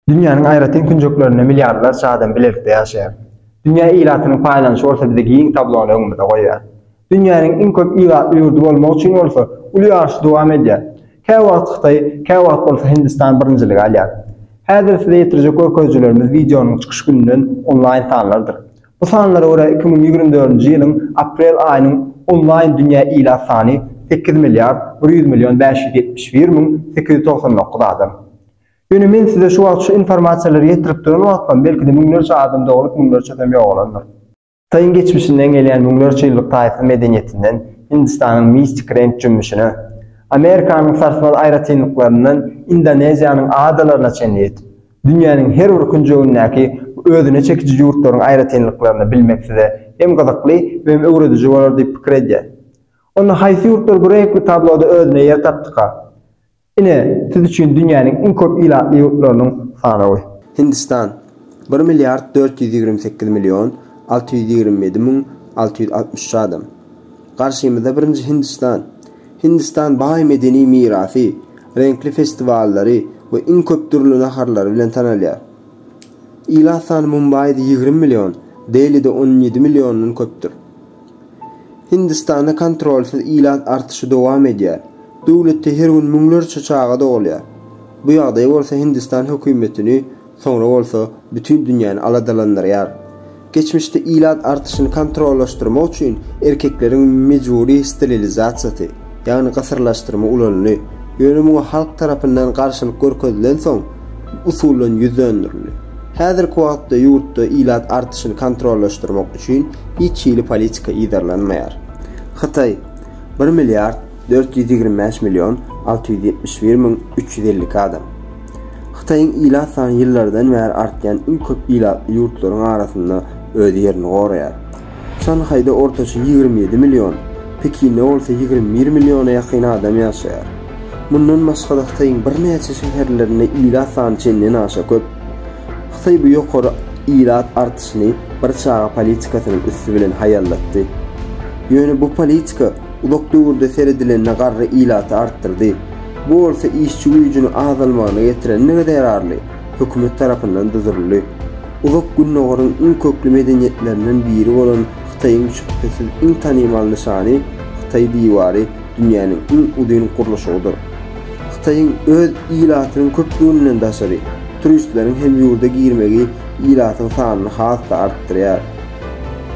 Dünýäniň aýratyn künjeklerinde milliardlarça adam bilelikde ýaşaýar. Dünýä ilatynyň paýlanyşy bolsa bize giň tablony öňümize goýýar. Dünýäniň iň köp ilatly ýurdy bolmak üçin bolsa uly ýaryş dowam edýär. Käwagt Hytaý, käwagt bolsa Hindistan birinjiligi alýar. Häzir size ýetirjek görkezijilerimiz wideonyň çykyş gününden onlaýn sanlardyr. Bu sanlara görä iki müň ýigrimi dördünji ýylyň aprel aýynyň onlaýn dünýä ilat sany sekiz milliard bir ýüz million bäş ýüz ýetmiş bir müň sekiz ýüz togsan dokuz adam. Ýöne men size şu wagt şu informasiýalary ýetirip duran wagtlam belki-de müňlerçe adam doglup, müňlerçesem ýogalandyr. Hytaýyň geçmişinden gelýän müňlerçe ýyllyk taýsyz medeniýetinden Hindistanyň mistik reňk jümmüşine, Amerikanyň sarsmaz aýratynlyklaryndan Indoneziýanyň adalaryna çenli ýetip, dünýäniň her bir künjegindäki bu özüne çekiji ýurtlaryň aýratynlyklaryny bilmek size hem gyzykly, hem öwrediji bolar diýip pikir edýän. Onda haýsy ýurtlar bu reňkli tabloda özüne ýer tapdyka? Ine, siz üçin dünýäniň iň köp ilatly ýurtlarynyň sanawy. Hindistan, bir milliard dört ýüz ýigrimi sekiz million alty ýüz ýigrimi ýedi müň alty ýüz altmyş üç adam. Garşymyzda birinji Hindistan. Hindistan baý medeni mirasy, reňkli festiwallary we iň köp dürli naharlary bilen tanalýar. Ilat sany Mumbaýda ýigrimi million, Delide on ýedi milliondan köpdür. Hindistanda kontrolsyz ilat artyşy dowam edýär. Döwletde her gün müňlerçe çaga dogulýar. Bu ýagdaý bolsa Hindistan hökümetini, soňra bolsa bütin dünýäni aladalandyrýar. Geçmişde ilat artyşyny kontrollaşdyrmak üçin erkekleriň mejbury sterilizasiýasy, ýagny gysyrlaşdyrma ulanyldy, ýöne muňa halk tarapyndan garşylyk görkezilensoň, bu usuldan ýüz dönderildi. Häzirki wagtda ýurtda ilat artyşyny kontrollaşdyrmak üçin hiç hili politika yzarlanmaýar. Hytaý, bir milliard dört ýüz ýigrimi bäş million alty ýüz ýetmiş bir müň üç ýüz elli iki adam. Hytaýyň ilat sany ýyllardan bäri artýan iň köp ilatly ýurtlaryň arasynda öz ýerini goraýar. Şanhaýda ortaça ýigrimi ýedi million, Pekinde bolsa ýigrimi bir milliona ýakyn adam ýaşaýar. Mundan başga-da Hytaýyň birnäçe şäherlerinde ilat sany çenden aşa köp. Hytaý bu ýokary ilat artyşyny bir çaga politikasynyň üsti bilen haýallatdy. Ýöne bu politika uzak döwürde seredilende garry ilaty artdyrdy. Bu bolsa işçi güýjüniň azalmagyna getirendigi zerarly, hökümet tarapyndan duzuldy. Uzak Gündogaryň iň kökli medeniýetlerinden biri bolan Hytaýyň şübhesiz iň tanymal nyşany Hytaý diwary dünýäniň iň uzyn gurluşygydyr. Hytaýyň öz ilatynyň köplüginden daşary, turistleriň hem ýurda girmegi ilatyň sanyny has-da artdyrýar.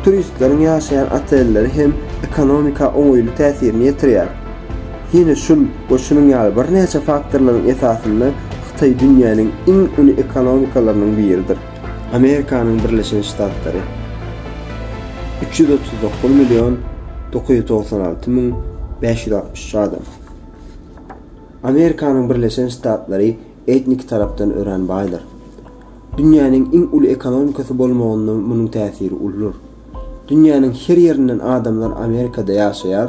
Turistleriň ýaşaýan otelleri hem ekonomika oňaýly täsirini ýetirýär. Ýene şul we şunuň ýaly birnäçe faktorlaryň esasynda Hytaý dünýäniň iň uly ekonomikalarynyň biridir. Amerikanyň Birleşen Ştatlary, üç ýüz otuz dokuz million dokuz ýüz togsan alty müň bäş ýüz altmyş üç adam. Amerikanyň Birleşen Ştatlary etniki tarapdan örän baýdyr. Dünýäniň iň uly ekonomikasy bolmagynda munuň täsiri uludyr. Dünýäniň her ýerinden adamlar Amerikada ýaşaýar,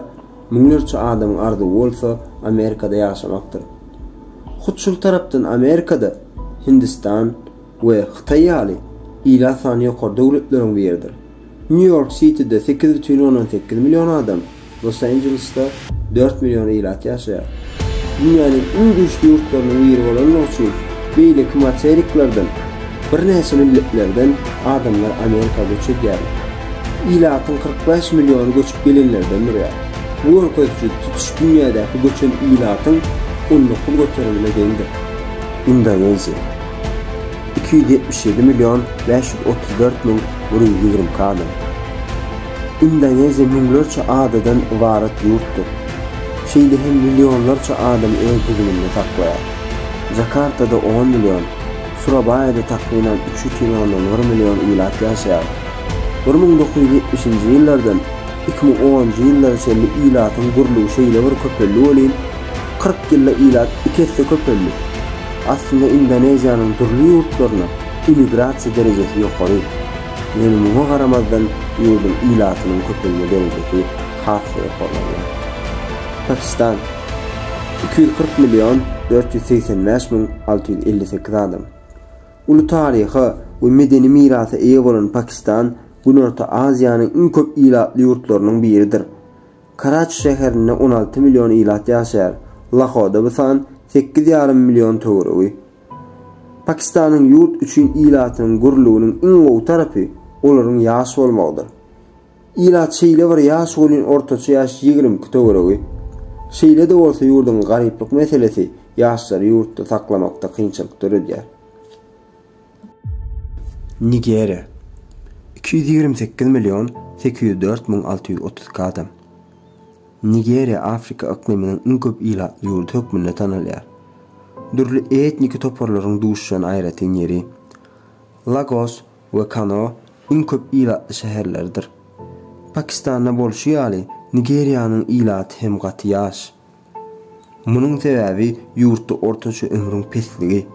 Müňlerçe adamyň arzuwy bolsa Amerikada ýaşamakdyr. Hut şol tarapdan Amerikada Hindistan we Hytaý ýaly ilat sany ýokary döwletleriň biridir. Nýu Ýork Sitide sekiz bütin ondan sekiz million adam, Los Anjelesda dört million ilat ýaşaýar. Dünýäniň iň güýçli ýurtlarynyň biri bolandygy üçin beýleki materiklerden birnäçe milletlerden adamlar Amerika göç edýärler. Ilatyň kyrk bäş milliony göçüp gelenlerden durýar. Bu görkeziji tutuş dünýädäki göçen ilatyň on dokuz göterimine deňdir. Indoneziýa. Iki ýüz ýetmiş ýedi million bäş ýüz otuz dört müň bir ýüz ýigrimi iki adam. Indoneziýa müňlerçe adadan ybarat ýurtdyr. Şeýle hem millionlarça adamy öz düzüminde saklaýar. Jakartada on million, Surabaýada takmynan üç ýüz ýigrimi ondan bir million ilat ýaşaýar. Bir müň dokuz ýüz ýetmişinji ýyllardan iki müň onunjy ýyllara çenli ilatyň gürlügi şeýle bir köpeldi welin, kyrk ýylda ilat iki esse köpeldi. Aslynda Indoneziýanyň dürli ýurtlaryna immigrasiýa derejesi ýokary. Ýöne muňa garamazdan ýurduň ilatynyň köpelme derejesi Hasy ýokarlanýar. Pakistan, iki ýüz kyrk million dört ýüz segsen bäş müň alty ýüz elli sekiz adam. Uly taryha we medeni mirasa eýe bolan Pakistan Günorta Aziýanyň iň köp ilatly ýurtlarynyň biridir. Karaçi şäherinde on alty million ilat ýaşaýar, Lahoda bu san sekiz ýarym million töweregi. Pakistanyň ýurt üçin ilatynyň gürlüginiň iň gowy tarapy olaryň ýaş bolmagydyr. Ilat şeýle bir ýaş welin ortaça ýaş ýigrimki töweregi. Şeýle-de bolsa ýurduň garyplyk meselesi ýaşlary ýurtda saklamakda kynçylyk döredýär. Nigeriýa. Iki ýüz ýigrimi sekiz million sekiz ýüz dört müň alty ýüz otuz iki adam. Nigeriýa Afrika yklymynyň iň köp ilatly ýurdy hökmünde tanalýar. Dürli etniki toparlaryň duşýan aýratyn ýeri. Lagos we Kano iň köp ilatly şäherleridir. Pakistanda bolşy ýaly, Nigeriýanyň ilaty hem gaty ýaş. Munuň sebäbi ýurtda ortaça ömrüň pesligi.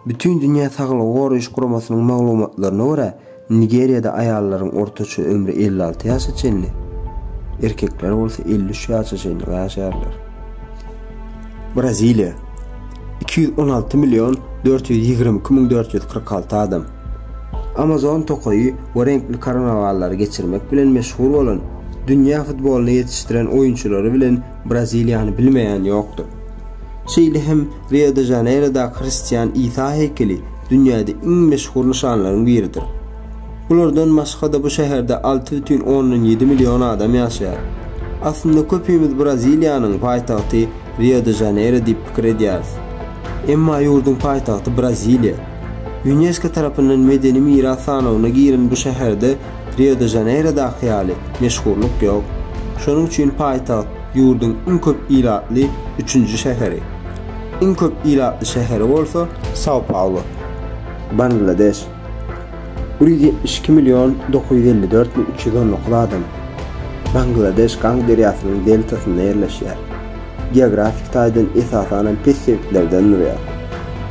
Bütindünýä Saglygy goraýyş guramasynyň maglumatlaryna görä, Nigeriýada aýallaryň ortaça ömri elli alty ýaşa çenli, erkekler bolsa elli üç ýaşa çenli ýaşarlar. Braziliýa, iki ýüz on alty million dört ýüz ýigrimi iki müň dört ýüz kyrk alty adam. Amazon tokaýy we reňkli karnawallary geçirmek bilen meşhur bolan, dünýä futbolyny ýetişdiren oýunçylary bilen Braziliýany bilmeýän ýokdur. Şeýle hem Rio-de-Žaneýrodaky hristian Isa heýkeli dünýäde iň meşhur nyşanlaryň biridir. Bulardan başga-da bu şäherde alty bütin ondan ýedi million adam ýaşaýar. Aslynda köpimiz Braziliýanyň paýtagty Rio-de-Žaneýro diýip pikir edýäris. Emma ýurduň paýtagty Braziliýa. Ýunesko tarapyndan medeni miras sanawyna giren bu şäherde Rio-de-Žaneýrodaky ýaly meşhurlyk ýok. Şonuň üçin paýtagt ýurduň iň köp ilatly üçünji şäheri. Iň köp ilatly şäheri bolsa Sao-Paulo, Bangladeş. Bir ýüz ýetmiş iki million dokuz ýüz elli dört müň üç ýüz on dokuz adam. Bangladeş Gang derýasynyň deltasynda ýerleşýär. geografik taýdan esasanam pes sebitlerden durýar.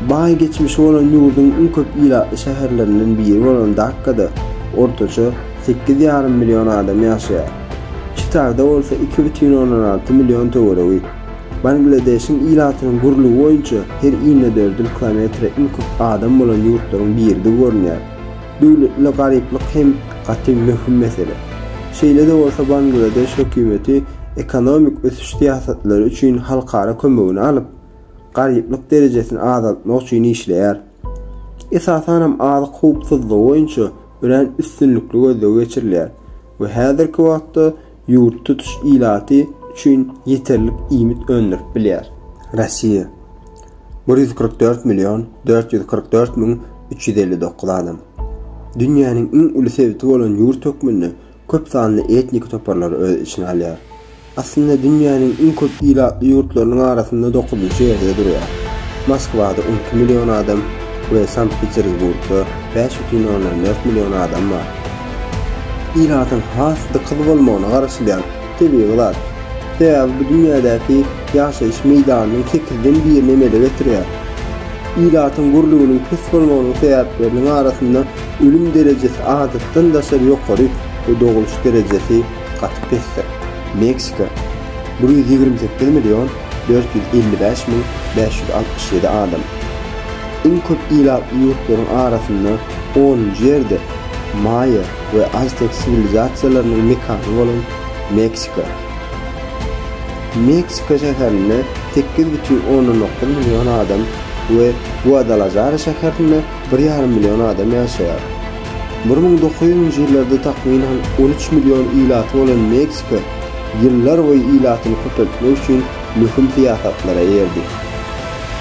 Baý geçmişi bolan ýurduň iň köp ilatly şäherlerinden biri bolan Dakkada ortaça sekiz ýarym million adam ýaşaýar. Çitada bolsa iki bütin ondan alty million töweregi. Bangladeşiň ilatynyň gurlugy boýunça her inedördül kilometre iň köp adam bolan ýurtlaryň biridi görünýär. Döwletli garyplyk hem gaty möhüm mesele. Şeýle-de bolsa Bangladeş hökümeti ekonomik ösüş syýasatlary üçin halkara kömegini alyp, garyplyk derejesini azaltmak üçin işleýär. Esasanam azyk howpsuzlygy boýunça örän üstünlikli gözleg geçirilýär we häzirki wagtda Ýurt tutuş ilaty üçin ýeterlik iýmit öndürip bilýär. Rossiýa, bir ýüz kyrk dört million dört ýüz kyrk dört müň üç ýüz elli dokuz adam. Dünýäniň iň uly sebiti bolan ýurt hökmünde köp sanly etniki toparlary öz içine alýar. Aslynda dünýäniň iň köp ilatly ýurtlarynyň arasynda dokuzynjy ýerde durýar. Moskwada on iki million adam we Sankt-Peterburgda bäş bütin ondan dört million adam bar. Ilatyň has dykyz bolmagyna garaşylýan tebigy zat. Sebäbi bu dünýädäki ýaşaýyş meýdanynyň sekizden birini emele getirýär. Ilatyň gürlüginiň pes bolmagynyň sebäpleriniň arasynda ölüm derejesi adatdan daşary ýokary we dogluş derejesi gaty pesdir. Meksika, bir ýüz ýigrimi sekiz million dört ýüz elli bäş müň bäş ýüz altmyş ýedi adam. Iň köp ilatly ýurtlaryň arasynda Ol ýerde maýa we aztek siwilizasiýalarynyň mekany bolan Meksika. Meksika şäherinde sekiz bütin ondan dokuz million adam we Guadalajara şäherinde bir ýarym million adam ýaşaýar. Bir müň dokuz ýüzünji ýyllarda takmynan on üç million ilaty bolan Meksika ýyllarboýy ilatyny köpeltmek üçin möhüm syýasatlara erdi.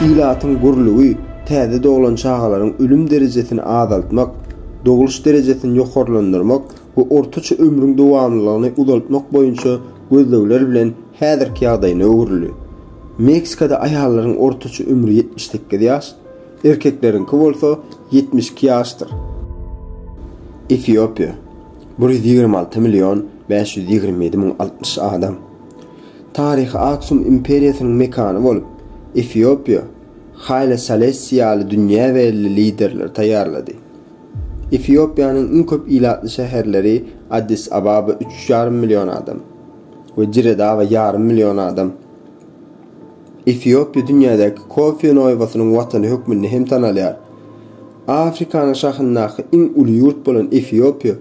Ilatyň gürlügi, täze doglan çagalaryň ölüm derejesini azaltmak, dogluş derejesini ýokarlandyrmak we ortaça ömrüň dowamlylygyny uzaltmak boýunça gözlegler bilen häzirki ýagdaýyna öwrüldi. Meksikada aýallaryň ortaça ömri ýetmiş sekiz ýaş, erkekleriňki bolsa ýetmiş iki ýaşdyr. Efiopiýa, bir ýüz ýigrimi alty million bäş ýüz ýigrimi ýedi müň altmyş adam. Taryhy Aksum imperiýasynyň mekany bolup, Efiopiýa, Haýle Salessi ýaly dünýä belli liderleri taýýarlady. Efiopiýanyň iň köp ilatly şäherleri Addis-Ababa üç ýarym million adam we Dire-Dawa ýarym million adam. Efiopiýa dünýädäki kofe noýbasynyň watany hökmünde hem tanalýar. Afrikanyň şahyndaky iň uly ýurt bolan Efiopiýa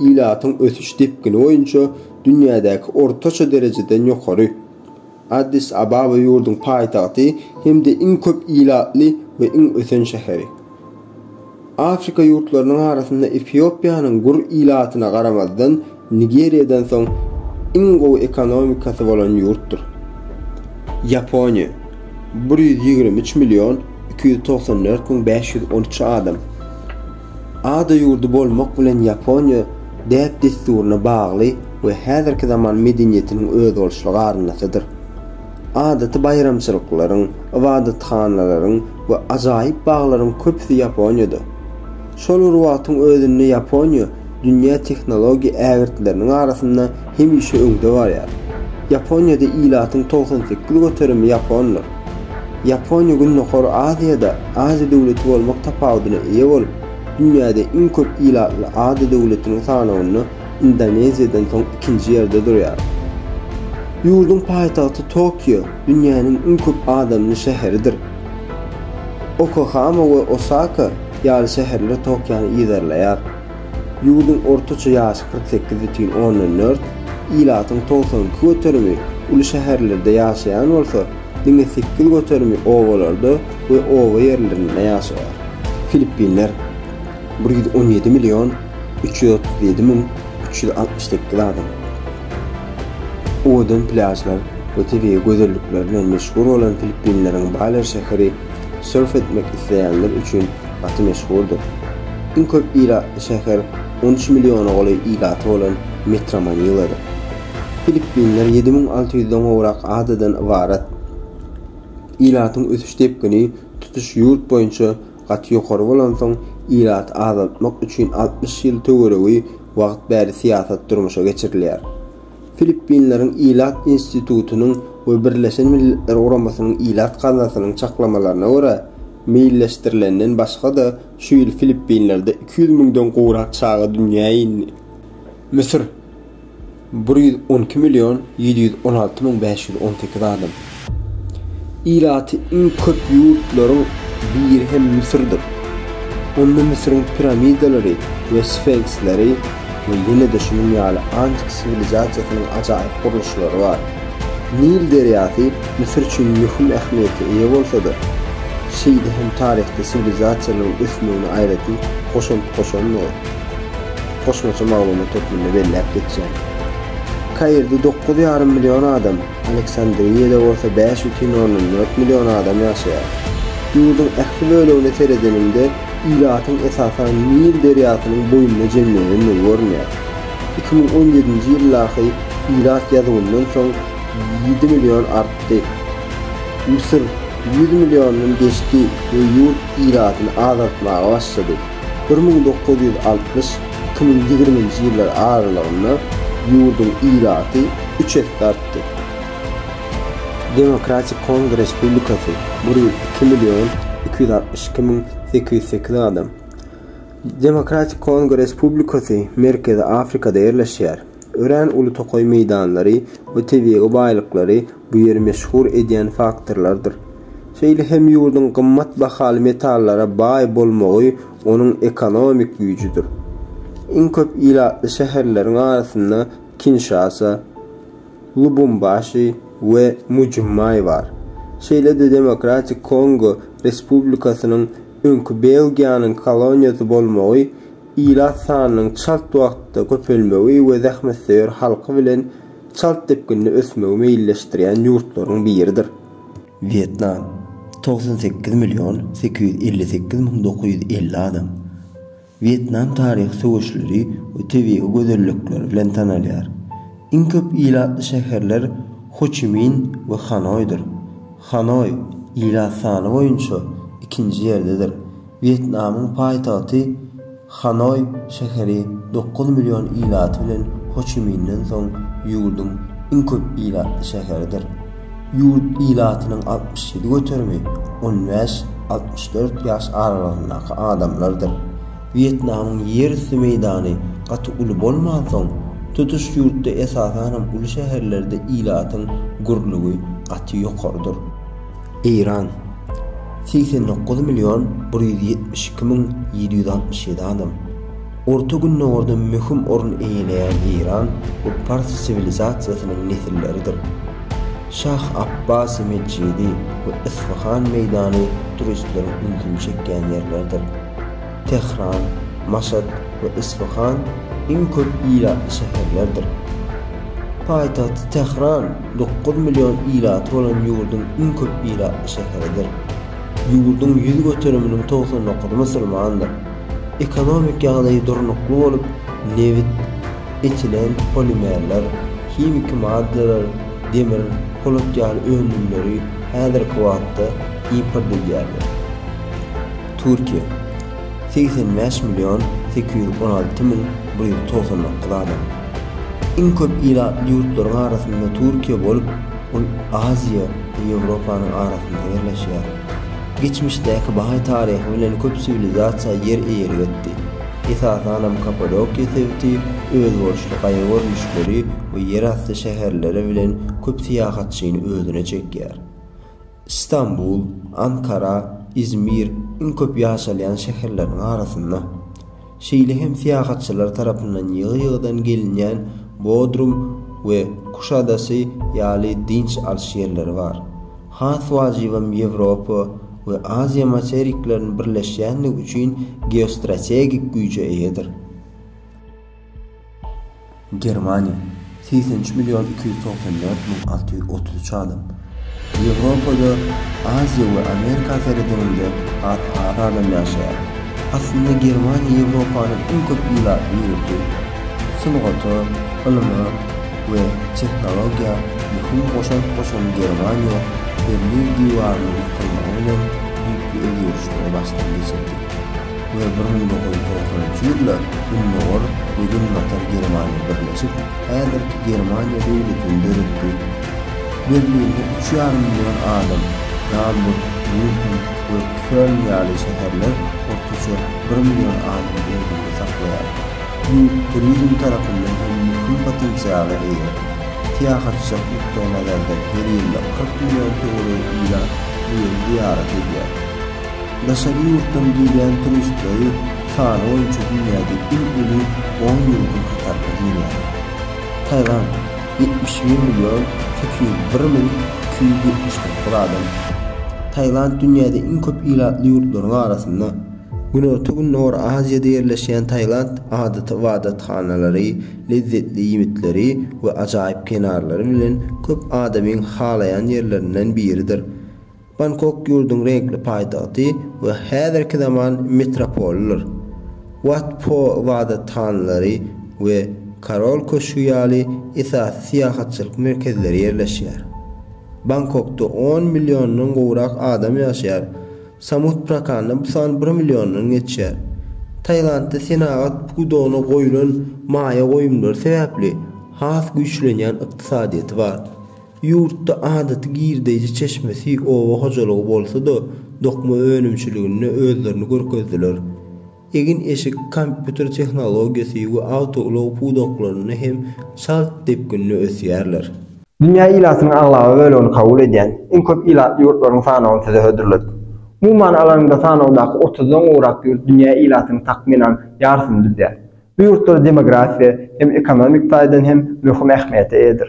ilatyň ösüş depgini boýunça dünýädäki ortaça derejeden ýokary. Addis-Ababa ýurduň paýtagty hem-de iň köp ilatly we iň ösen şäheri. Afrika ýurtlarynyň arasynda Efiopiýanyň gür ilatyna garamazdan Nigeriýadan soň iň gowy ekonomikasy bolan ýurtdur. Ýaponiýa, bir ýüz ýigrimi üç million iki ýüz togsan dört müň bäş ýüz on üç adam. Ada ýurdy bolmak bilen Ýaponiýa däp-dessuryna bagly we häzirki zaman medeniýetiniň özboluşly garyndasydyr. Adaty baýramçylyklaryň, ybadathanalaryň we ajaýyp baglaryň köpüsi Ýaponiýada. Şol bir wagtyň özünde Ýaponiýa dünýä tehnologiýa ägirtleriniň arasynda hemişe öňde barýar. Ýaponiýada ilatyň togsan sekiz göterimi ýapondyr. Ýaponiýa Gündogar Aziýada ada döwleti bolmak tapawudyna eýe bolup, dünýäde iň köp ilatly ada döwletiniň sanawynda Indoneziýadan soň ikinji ýerde durýar. Ýurduň paýtagty Tokio dünýäniň iň köp adamly şäheridir. Okahama we Osaka ýaly şäherler Tokiony yzarlaýar. Ýurduň ortaça ýaşy kyrk sekiz bütin ondan dört, ilatyň togsan iki göterimi uly şäherlerde ýaşaýan bolsa, diňe sekiz göterimi obalarda we oba ýerlerinde ýaşaýar. Filippinler, bir ýüz on ýedi million üç ýüz otuz ýedi müň üç ýüz altmyş sekiz adam. Owadan plýažlar we tebigy gözellikleri bilen meşhur bolan Filippinleriň Baler şäheri sörf etmek isleýänler üçin gaty meşhurdyr. Iň köp ilatly şäher on üç milliona golaý ilaty bolan Metra-Maniladyr. Filippinler ýedi müň alty ýüzden gowrak adadan ybarat. Ilatyň ösüş depgini tutuş ýurt boýunça gaty ýokary bolansoň, ilaty azaltmak üçin altmyş ýyl töweregi wagt bäri syýasat durmuşa geçirilýär. Filippinleriň Ilat institutynyň we Birleşen Milletler Guramasynyň Ilat gaznasynyň çaklamalaryna görä, meýilleşdirilenden başga-da, şu ýyl Filippinlerde iki ýüz müňden gowrak çaga dünýä indi. Müsür, bir ýüz on iki million ýedi ýüz on alty müň bäş ýüz on sekiz adam. Ilaty iň köp ýurtlaryň biri hem Müsürdir. Onda Müsüriň piramidalary we sfenksleri we ýene-de şunuň ýaly antik siwilizasiýasynyň ajaýyp gurluşlary bar. Nil derýasy Müsür üçin möhüm ähmiýete eýe bolsa-da, şeýde hem taryhda siwilizasiýalaryň ösmegine aýratyn goşant goşandygy goşmaça maglumat hökmünde belläp geçýär. Kairde dokuz ýarym million adam Aleksandriýada bolsa bäş bütin ondan dört million adam ýaşaýar. Ýurduň ähli bölegine seredeniňde, ilatyň esasan Nil derýasynyň boýunda jemlenendigi görünýär. Iki müň on ýedinji ýyldaky ilat ýazuwyndan soň ýedi million artdy. Müsür ýüz milliondan geçdi we ýurt ilatyny azaltmaga başlady. Bir müň dokuz ýüz altmyş iki müň ýigriminji ýyllar aralygynda ýurduň ilaty üç esse artdy. Demokratik Kongo Respublikasy, bir ýüz iki million iki ýüz altmyş iki müň sekiz ýüz sekiz adam. Demokratik Kongo Respublikasy Merkezi Afrikada ýerleşýär. Örän uly tokaý meýdanlary we tebigy baýlyklary bu ýeri meşhur edýän faktorlardyr. Şeýle hem ýurduň gymmat bahaly metallara baý bolmagy onuň ekonomik güýjüdir. Iň köp ilatly şäherleriň arasynda Kinşasa, Lubumbaşi we Mbuji-Maý bar. Şeýle-de Demokratik Kongo Respublikasynyň öňki Belgiýanyň koloniýasy bolmagy, ilat sanynyň çalt wagtda köpelmegi we zähmetsöýer halky bilen çalt depginde ösmegi meýilleşdirýän ýurtlaryň biridir. Wýetnam, togsan sekiz million sekiz ýüz elli sekiz müň dokuz ýüz elli adam. Wýetnam taryhy söweşleri we tebigy gözellikleri bilen tanalýar. Iň köp ilatly şäherler Hoçimin we Hanoýdyr. Hanoý, ilat sany boýunça, ikinji ýerdedir. Wýetnamyň paýtagty Hanoý şäheri dokuz million ilaty bilen Ho Çi Minden soň ýurduň iň köp ilatly şäheridir. Ýurt ilatynyň altmyş ýedi göterimi on bäş-altmyş dört ýaş aralygyndaky adamlardyr. Wýetnamyň ýer üsti meýdany gaty uly bolmansoň, tutuş ýurtda esasanam uly şäherlerde ilatyň gürlügi gaty ýokarydyr. Eýran, segsen dokuz million bir ýüz ýetmiş iki müň ýedi ýüz altmyş ýedi adam. Orta Gündogarda möhüm orun eýeleýän Eýran bu pars siwilizasiýasynyň nesilleridir. Şah Apbasy metjidi we Isfahan meýdany turistleriň ünsüni çekýän ýerlerdir. Tähran, Maşat we Isfahan iň köp ilatly şäherlerdir. Paýtagty Tähran. Dokuz million ilaty bolan ýurduň iň köp ilatly şäheridir. Ýurduň ýüz göteriminiň togsan dokuzy musulmandyr. Ekonomik ýagdaýy durnukly bolup, nebit, etilen polimerler, himiki maddalar, demir, polat ýaly önümleri häzirki wagtda import edýärler. Türkiýe. segsen bäş million sekiz ýüz on alty müň bir ýüz togsan dokuz adam. Iň köp ilatly ýurtlaryň arasynda Türkiýe bolup, ol Aziýa we Ýewropanyň arasynda ýerleşýär. Geçmişdäki baý taryhy bilen köp siwilizasiýa ýer eýelik etdi. Esasanam Kapadokiýa sebiti özboluşly gaýa görnüşleri we ýerasty şäherleri bilen köp syýahatçyny özüne çekýär. Stambul, Ankara, Izmir iň köp ýaşalýan şäherleriň arasynda. Şeýle hem syýahatçylar tarapyndan ýygy-ýygydan gelinýän Bodrum we Kuş adasy ýaly dynç alyş ýerleri bar. Has wajybam Ýewropa we Aziýa materiklerini birleşýändigi üçin geostrategik güýje eýedir. Germaniýa, segsen üç million iki ýüz togsan dört müň alty ýüz otuz üç adam, Ýewropada, Aziýa we Amerika seredininde has az adam ýaşaýar. Aslynda Germaniýa Ýewropanyň iň köp ilatly ýurdy. Sungata, ylyma we tehnologiýa möhüm goşant goşan Germaniýa Berlin diwarynyň ýykylmagy bilen düýpli özgerişleri başdan geçirdi. we bir müň dokuz ýüz togsan üçünji ýylda Gündogar we Günbatar Germaniýa birleşip, häzirki Germaniýa döwletini döretdi. Berlinde üç ýarym million adam, Gamburg, Mýunhen we Köln ýaly şäherler ortaça bir million adam özünde saklaýar. Ýurt turizm tarapyndan hem möhüm potensiala eýe. Syýahatçylyk nukdaýnazardan her ýylda kyrk million töweregi ilat bu ýeri zyýarat edýär. Daşary ýurtdan gelýän turistleri sany boýunça dünýäde iň uly on ýurduň hataryna girýär. Tailand, ýetmiş bir million sekiz ýüz bir müň iki ýüz ýetmiş dokuz adam. Tailand dünýäde iň köp ilatly ýurtlaryň arasynda. Günorta-Gündogar Aziýada ýerleşýän Tailand adaty ybadathanalary, lezzetli iýmitleri we ajaýyp kenarlary bilen köp adamyň halaýan ýerlerinden biridir. Bangkok ýurduň reňkli paýtagty we häzirki zaman metropolydyr. Wat Pho ybadathanalary we Korol köşgi ýaly esasy syýahatçylyk merkezleri ýerleşýär. Bangkokda on milliondan gowrak adam ýaşaýar, Samut Prakanda bu san bir milliondan geçýär. Tailandda senagat pudagyna goýlan maýa goýumlary sebäpli has güýçlenýän ykdysadyýeti bar. Ýurtda adaty girdeýji çeşmesi oba hojalygy bolsa-da, dokma önümçiliginde özlerini görkezdiler. Egin-eşik, kompýuter tehnologiýasy we awtoulag pudaklarynda hem çalt depginde ösýärler. Dünýä ilatynyň aglaba bölegini kabul edýän iň köp ilatly ýurtlaryň sanawyny size hödürledik. Umuman alanyňda sanawdaky otuzdan gowrak ýurt dünýä ilatynyň takmynan ýarsyny düzýär. Bu ýurtlar demografiýa hem ekonomik taýdan hem möhüm ähmiýete eýedir.